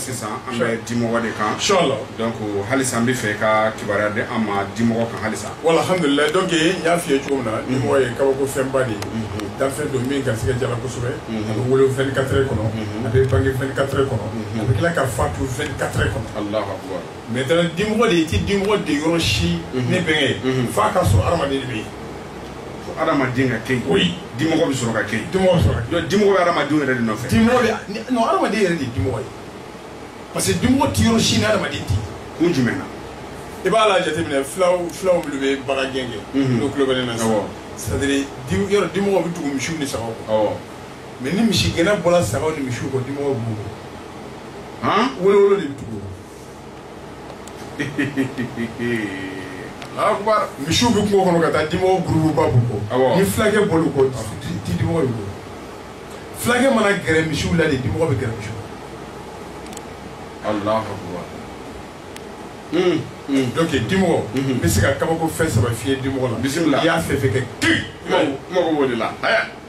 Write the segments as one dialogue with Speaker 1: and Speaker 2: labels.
Speaker 1: sisan an bɛ dimɔgɔ de kan inchallah donc
Speaker 2: halisa an
Speaker 1: bɛ fɛ ka kibaruya di an ma dimɔgɔ kan halisa wala alhamdulilayi
Speaker 2: donc n y'a f'i ye cogo min na dimɔgɔ ye kabako fɛnba de ye danfɛn don min garisigɛ jala kosɛbɛ a bɛ wolo 24 heures kɔnɔ a bɛ bange 24 heures kɔnɔ a bɛ tila ka fatu 24 heures kɔnɔ
Speaker 1: maintenant dimɔgɔ
Speaker 2: de i ti dimɔgɔ de yɔrɔ si mhm. ne bɛnkɛ mhm. f'a ka sɔrɔ adamaden de bɛ yen
Speaker 1: fo adamaden ka kɛ yen oui dimɔgɔ bɛ sɔrɔ
Speaker 2: ka kɛ yen
Speaker 1: dimɔgɔ bɛ sɔrɔ ka kɛ yen dimɔgɔ
Speaker 2: bɛ adamadenw yɛrɛ de nɔfɛ
Speaker 1: dimɔgɔ bɛ non
Speaker 2: adamaden yɛrɛ de ye dimɔgɔ ye parce que dimɔgɔ ti yɔrɔ si ni adamaden tɛ kun jumɛn
Speaker 1: na i b'a
Speaker 2: la jateminɛ fulaw fulaw minnu bɛ bagan gɛn kɛ mhm. n'o tulo bɛ ne na sisan c'est à dire yɔrɔ dimɔgɔ bɛ tugu misiw ni sagaw kɔ mais ni misi gɛnna bɔra sagaw ni misiw kɔ dimɔgɔ b'u kɔ wolowolo
Speaker 1: de bɛ tugu misiw bɛ kungo kɔnɔ
Speaker 2: ka taa dimɔgɔ gurupuba b'u kɔ ni fulakɛ bɔl'u kɔ i ti dimɔgɔ y'u kɔ fulakɛ mana gɛrɛ misiw la de dimɔgɔ bɛ gɛrɛ misiw
Speaker 1: Allahu akbar
Speaker 2: donc dimɔgɔ hmm. n bɛ se ka kabako fɛn saba f'i ye dimɔgɔ la bisimila i y'a fɛn fɛn kɛ kiri mago b'o de
Speaker 1: la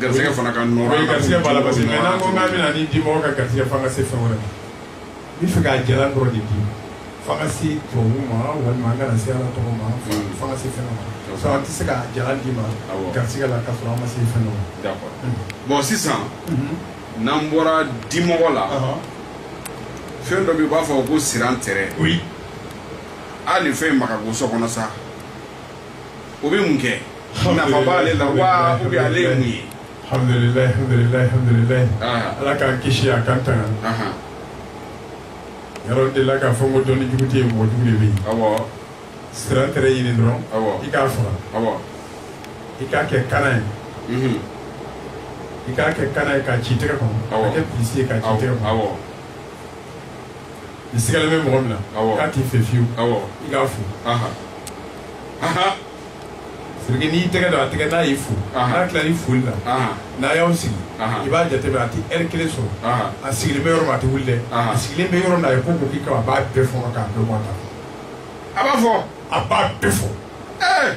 Speaker 1: Garisigɛ fana ka garisigɛ b'a la parce
Speaker 2: que n'an ko k'an bɛna ni dimɔgɔ ka garisigɛ fo an ka se fɛn wɛrɛ ma n bɛ fɛ k'a jalan dɔrɔn de di fo an ka se turabu ma walima an kana se ala tɔgɔ ma fo an ka se fɛn ma sinon an tɛ se k'a jalan d'i ma garisigɛ la ka sɔrɔ an ma se fɛn dɔ ma.
Speaker 1: bɔn sisan n'an bɔra dimɔgɔ la fɛn dɔ bɛ yen u b'a fɔ ko sirantɛrɛ hali fɛn in ma ka go so kɔnɔ sa. o bɛ mun kɛ nafa b'ale la wa ou bien ale ye mun ye alhamdulilayi
Speaker 2: alhamdulilayi alhamdulilayi Aha. ala k'an kisi a k'an tanga Ahan, yɔrɔ de la k'a fɔ ko dɔnni jugu tɛ yen mɔgɔ jugu de bɛ yen
Speaker 1: awɔ sirantɛrɛ
Speaker 2: ɲini dɔrɔn awɔ i k'a faga
Speaker 1: awɔ i
Speaker 2: k'a kɛ kana ye mhm, i k'a kɛ kana ye k'a ci tɛgɛ kɔnɔ Awɔ. k'a kɛ pilisi ye k'a ci awɔ tɛgɛ kɔnɔ awɔ i sigalen bɛ mɔgɔ min na Awɔ. k'a t'i fɛ fiyewu awɔ i k'a fo aha aha c'est que n'i y'i tɛgɛ don a tɛgɛ n'a y'i fo Aha. n'a tilala foli la aha n'a y'a sigi Aha. i b'a jateminɛ a tɛ ɛri kelen sɔrɔ aha a sigilen bɛ yɔrɔ min a tɛ wuli dɛ Aha. a sigilen bɛ yɔrɔ min na a ye ko ko k'i kama a b'a bɛɛ fɔɔnɔ k'a bɛɛ bɔ a da a b'a fɔ
Speaker 1: a b'a bɛɛ fɔ
Speaker 2: ɛɛ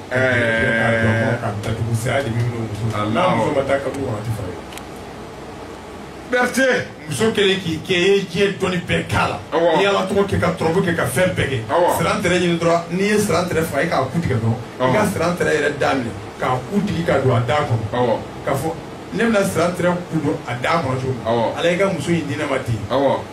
Speaker 1: Berete muso
Speaker 2: kelen k'i kɛ e ye diɲɛ dɔnni bɛɛ k'a la n'i y'ala tɔgɔ kɛ ka turabu kɛ ka fɛn bɛɛ kɛ sirantɛrɛ ɲini dɔrɔn n'i ye sirantɛrɛ faga i k'a ku tigɛ dɔrɔn i ka sirantɛrɛ yɛrɛ da minɛ k'a ku digi ka don a da kɔnɔ k'a fɔ ne bɛna sirantɛrɛ ku don a da kɔnɔ cogo min ala i ka muso in di ne ma ten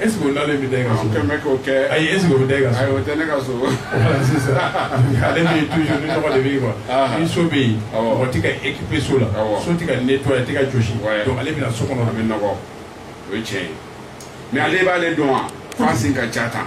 Speaker 2: est-ce que o bɛ da ka kɛ ayi
Speaker 1: est-ce que bɛ da
Speaker 2: ka o tɛ ne ka
Speaker 1: so sisan
Speaker 2: ale bɛ yen toujours ni nɔgɔ de bɛ yen quoi ni so bɛ yen o tɛ ka équiper so la so tɛ ka nettoyer a tɛ ka jɔsi donc ale bɛna so kɔnɔ a bɛ nɔgɔ
Speaker 1: o ye tiɲɛ ye mais ale b'ale dɔn wa f'a sen ka ca tan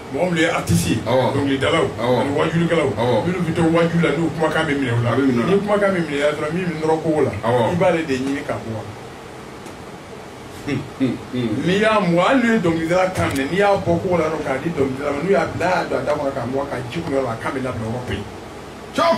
Speaker 1: mɔgɔ
Speaker 2: minnu ye artiste ye dɔnkilidalaw ani wajulikɛlaw minnu bɛ to waju la n'u kumakan bɛ minɛ u la ni kumakan bɛ minɛna dɔrɔn min bɛ nɔrɔ kogo la i b'ale de ɲini k'a bɔ n'i y'a mɔ hali n'u ye dɔnkilidala kan minɛ n'i y'a bɔ kogo la dɔrɔn k'a di dɔnkilidala ma n'u y'a bila y'a don a da kɔnɔ k'a mɔ k'a ji kunu yɔrɔ la a kan bɛ labila o yɔrɔ bɛ yen cɔp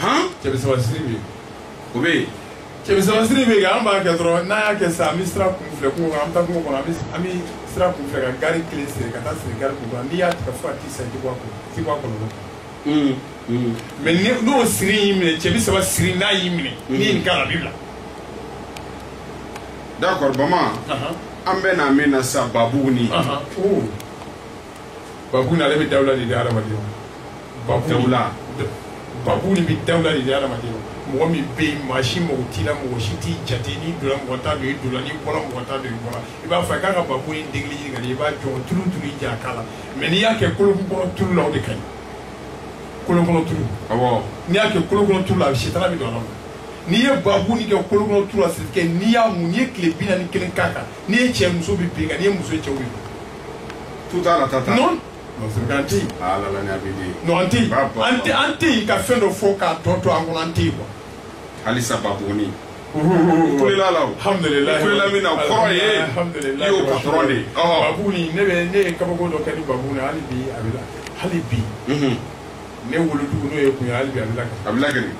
Speaker 2: han cɛbisabasiri bɛ yen o bɛ
Speaker 1: yen cɛbisabasiri
Speaker 2: bɛ yen an b'a kɛ dɔrɔn n'a y'a kɛ sisan an bɛ sira kun filɛ kungo kɔnɔ an bɛ taa kungo kɔnɔ an bɛ an bɛ sira kun filɛ ka gaari kelen siri ka taa siri gaari kun kɔnɔ n'i y'a tigɛ fo ka t'i sa i tɛ bɔ a kɔnɔ i tɛ bɔ a kɔlɔlɔ kɔnɔ. Hmm, hmm. mais n'o siri y'i minɛ cɛbisaba siri n'a y'i minɛ hmm. n'i ye nin k'a la a b'i
Speaker 1: bila. d'accord bama an bɛ na min na sisan babuguni.
Speaker 2: babuguni ale bɛ dawula de di hadamadenw ma babu Dawula. babuguni de bɛ dawula de di hadamadenw ma mɔgɔ min bɛ yen maa si mago t'i la mɔgɔ si t'i jate n'i donna mɔgɔ t'a dɔn i donna n'i bɔra mɔgɔ t'a dɔn i bɔra i b'a fɔ a k'a ka babuguni degeli ɲini ka di i b'a jɔ tulu tulu i ja a k'a la mais n'i y'a kɛ kolo kɔnɔ tulu la o de ka ɲi kolo kɔnɔ tulu awɔ n'i y'a kɛ kolo kɔnɔ tulu la a bɛ sitana bɛ don a la n'i ye babuguni kɛ kolo kɔnɔ tulu la c'est que n'i y'a mun n'i ye tile bi naani ni kelen k'a kan n'i ye cɛ muso bɛ bin kan n'i ye muso ye cɛw bɛ bin tout à
Speaker 1: l'heure tata non
Speaker 2: an tɛ yen ah, non an tɛ yen an tɛ an tɛ yen ka fɛn dɔ fɔ k'a tɔ to an kɔnɔ an tɛ yen quoi halisa babuguni
Speaker 1: kulela la o alhamdulilayi kulela min
Speaker 2: na o kɔrɔ
Speaker 1: ye i y'o patɔrɔn de ye babuguni ne
Speaker 2: bɛ ne ye kabako dɔ kɛ ni babuguni hali bi a bɛ la hali bi ne wolodugu n'o ye kun ye hali bi a bɛ lakali a bɛ lakali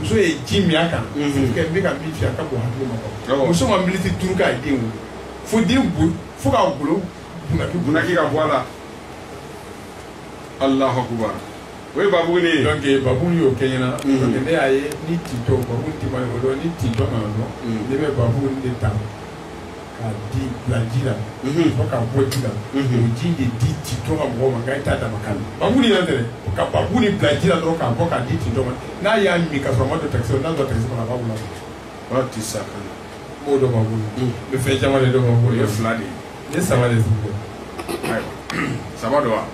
Speaker 2: muso ye ji min a kan n bɛ ka min f'i ye a ka bon hakili ma ko muso ma militi duuru k'a den wolo fo den bo fo k'a golo bunaki bunaki ka
Speaker 1: bɔ a la alahu akubar o ye babuguni ye donc babuguni y'o
Speaker 2: kɛ ɲɛna donc ne y'a ye ni tintɔ babuguni ti ma y'o dɔn ni tintɔ nana dɔrɔn ne bɛ babuguni de ta k'a di bila ji la Mhm. fo k'a bɔ ji la Mhm. o ji de di tintɔ ka mɔgɔ ma nka i t'a dama kan babuguni yɛrɛ tɛ dɛ ka babuguni bila ji la dɔrɔn k'a bɔ k'a di tintɔ ma n'a y'a min ka sɔrɔ a ma don takisi la n'a don takisi kɔnɔ a b'a wolo a b'a ti sa
Speaker 1: ka na b'o dɔn babuguni
Speaker 2: Mhm. bɛ fɛn caman de dɔn b'a o bolo ye fila de ye
Speaker 1: ne saba de sigi
Speaker 2: dɛ
Speaker 1: ayiwa saba don wa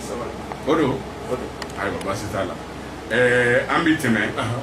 Speaker 1: saba o don o don ayiwa baasi t'a la ɛɛ an bɛ tɛmɛ ahan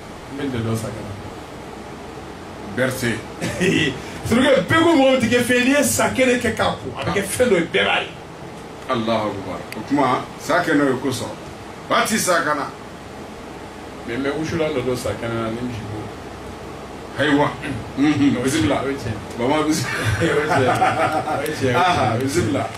Speaker 2: N bɛ dɔ sa
Speaker 1: parce
Speaker 2: que bɛɛ ko mɔgɔ tigɛ fɛn n'i ye sa kɛnɛ kɛ k'a ko a bɛ kɛ fɛn dɔ ye bɛɛ b'a ye alahu
Speaker 1: akubar o tuma sa kɛnɛ o ye ko sɔrɔ ba ti sa
Speaker 2: kana mais mais wusulan dɔ don sa kɛnɛ na ni misi bo ayiwa
Speaker 1: bisimila bama bisimila
Speaker 2: bisimila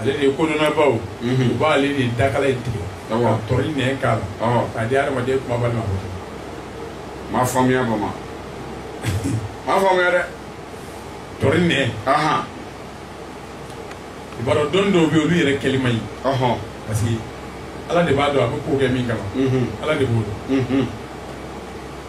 Speaker 2: ale de ye kodɔnnabaw u b'ale de dakala in tigɛ ka tɔri nɛn k'a la k'a di adamaden kumabali ma
Speaker 1: m'a faamuya bama m'a faamuya dɛ
Speaker 2: tɔri nɛn i b'a dɔn dɔnni dɔw bɛ yen olu yɛrɛ kɛli man ɲi parce que ala de b'a dɔn a bɛ ko kɛ min kama ala de b'o dɔn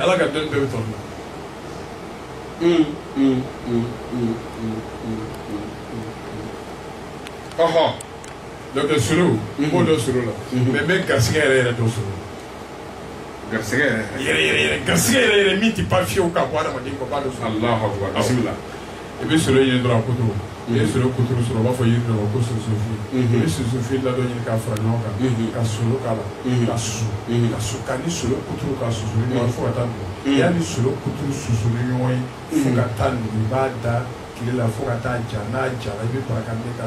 Speaker 2: ala ka dɔnni bɛɛ bɛ tɔn na ɔhɔ donc solo n b'o dɔn solo la mais n bɛ garisigɛ yɛrɛ yɛrɛ dɔn solo garisigɛ
Speaker 1: yɛrɛ yɛrɛ yɛrɛ
Speaker 2: garisigɛ yɛrɛ yɛrɛ min tɛ pan fiyewu ka bɔ adamaden kɔ b'a dɔn solo alahu akubar bisimila
Speaker 1: i bɛ
Speaker 2: solo ɲini dɔrɔn a kuturu n'i ye solo kuturu sɔrɔ u b'a fɔ yiri dɔ ma ko sunsunfin i bɛ sunsunfin ladɔn ɲini k'a fara ɲɔgɔn kan ka solo k'a la ka susu ka su ka ni solo kuturu ka susu ni ɲɔgɔn fo ka taa nugu y'a ni solo kuturu susu ni ɲɔgɔn ye fo ka taa nugu i b'a da tile la fo ka taa ja n'a jara i bɛ baraka ne ka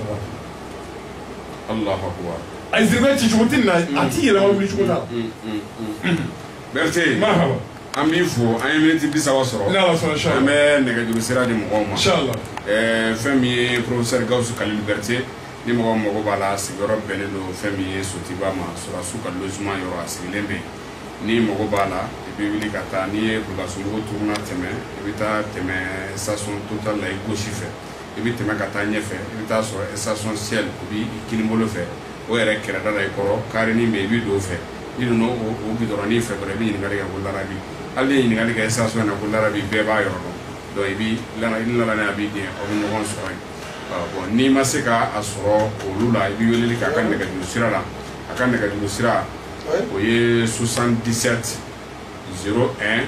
Speaker 1: a ye ziribɛ ci cogo tɛ na a t'i yɛlɛma wuli
Speaker 2: cogo t'a la.
Speaker 1: bɛrite an b'i fo an ye miniti bi saba sɔrɔ an bɛ
Speaker 2: nɛgɛjuru sira
Speaker 1: di mɔgɔw ma
Speaker 2: fɛn min
Speaker 1: ye professeur gawusu kalilu bɛrite ni mɔgɔ mago b'a la sigiyɔrɔ bɛnnen don fɛn min ye sotiba ma sɔrɔdasiw ka logement yɔrɔ a sigilen bɛ yen ni mago b'a la i bɛ wuli ka taa n'i ye bulukasumbugu turuna tɛmɛ i bɛ taa tɛmɛ station total la i gauche fɛ i bɛ tɛmɛ ka taa ɲɛfɛ i bɛ t'a sɔrɔ station shell o b'i kinin bolo fɛ o yɛrɛ kɛrɛda la i kɔrɔ karenin bɛ yen i bɛ don o fɛ n'i donna o gidɔrɔnin fɛ dɔrɔn i bɛ ɲininkali kɛ ko larabi hali n'i ye ɲininkali kɛ station na ko larabi bɛɛ b'a yɔrɔ dɔn donc i bɛ ni larabi a bɛ yen aw bɛ ɲɔgɔn sɔrɔ yen bon n'i ma se ka a sɔrɔ olu la i bɛ weleli kɛ a ka nɛgɛjuru sira la a ka nɛgɛjuru sira o ye 77 01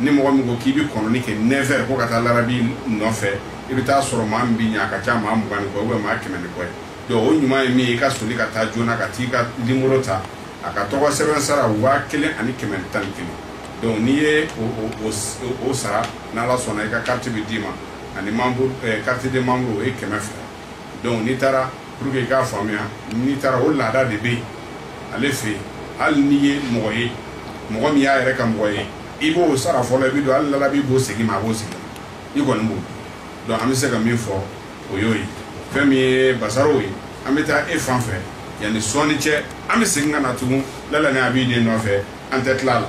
Speaker 1: ni mɔgɔ min ko k'i bɛ kɔnɔni kɛ neuf heures ko ka taa larabi nɔfɛ i bɛ t'a sɔrɔ maa min b'i ɲɛ a ka ca maa mugan ni kɔ ou bien maa kɛmɛ ni kɔ ye donc o ɲuman ye min ye i ka soli ka taa joona ka t'i ka nimoro ta a ka tɔgɔ sɛbɛn sara waa kelen ani kɛmɛ ni tan ni kelen donc n'i ye o sara n'ala sɔnna i ka carte bɛ d'i ma ani membre carte de membre o ye kɛmɛ fila donc n'i taara pour que i k'a faamuya n'i taara o laada de bɛ yen ale fɛ yen hali n'i ye mɔgɔ ye mɔgɔ min y'a yɛrɛ ka mɔgɔ ye i b'o sara fɔlɔ i bɛ don hali lalabi b'o segin i ma a b'o segin i kɔni b'o donc an bɛ se ka min fɔ o y'o ye fɛn min ye basaro ye an bɛ taa e fan fɛ yanni sɔɔni cɛ an bɛ segin ka na tugun lala ni a b'i den nɔfɛ an tɛ tila a la